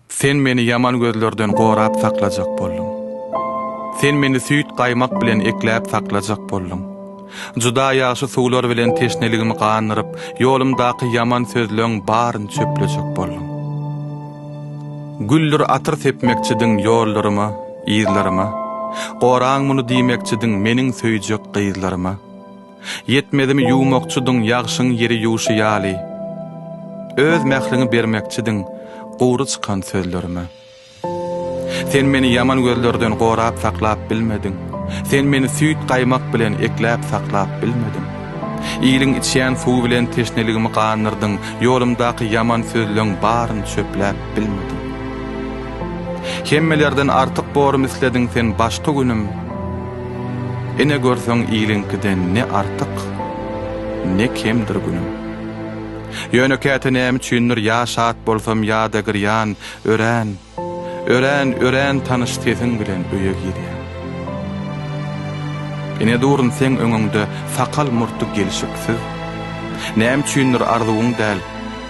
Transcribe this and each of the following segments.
Sen meni ýaman gözlerden gorap saklajak bolduň. Sen meni süýt-gaýmak bilen ekläp saklajak bolduň. Juda ýagşy suwlar bilen teşneligimi gandyryp, ýolumdaky ýaman sözleň baryny çöplejek bolduň. Güldür atyr sepmekçidiň ýollaryma, yzlaryma. Goraň muny diýmekçidiň meniň söýjek gyzlaryma. Ýetmezimi ýuwmakçydyň ýagşyň ýeri ýuwşy ýaly. Öz mähriňi bermekçidiň gury çykan sözlerime. Sen meni ýaman gözlerden gorap saklap bilmediň. Sen meni süýt-gaýmak bilen ekläp saklap bilmediň. Iliň içýän suwy bilen teşneligimi gandyrdyň, ýolumdaky ýaman sözleň baryny çöpläp bilmediň. Hemmelerden artyk borum islediň sen başky günüm. Ine görseň iliňkiden ne artyk, ne kemdir günüm. Ýöne käte näme üçindir ýa şat bolsam ýa-da girýan, örän, örän, örän tanyş sesiň bilen öýe girýän. Ine durun seň öňüňde sakal-murty gelşiksiz. Näme üçindir arzuwyň däl,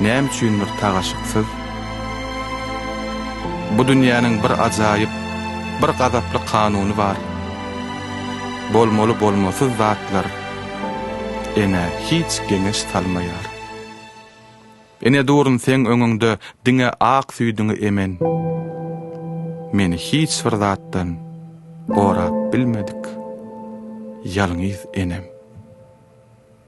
näme üçindir tagaşyksyz. Bu dünýäniň bir ajaýyp, bir gazaply kanuny bar. Bolmaly-bolmasyz zatlar enä hiç geňeş salmaýar. Ine durun seň öňüňde diňe ak süýdüňi emen. Meni hiç bir zatdan gorap bilmedik ýalňyz enem.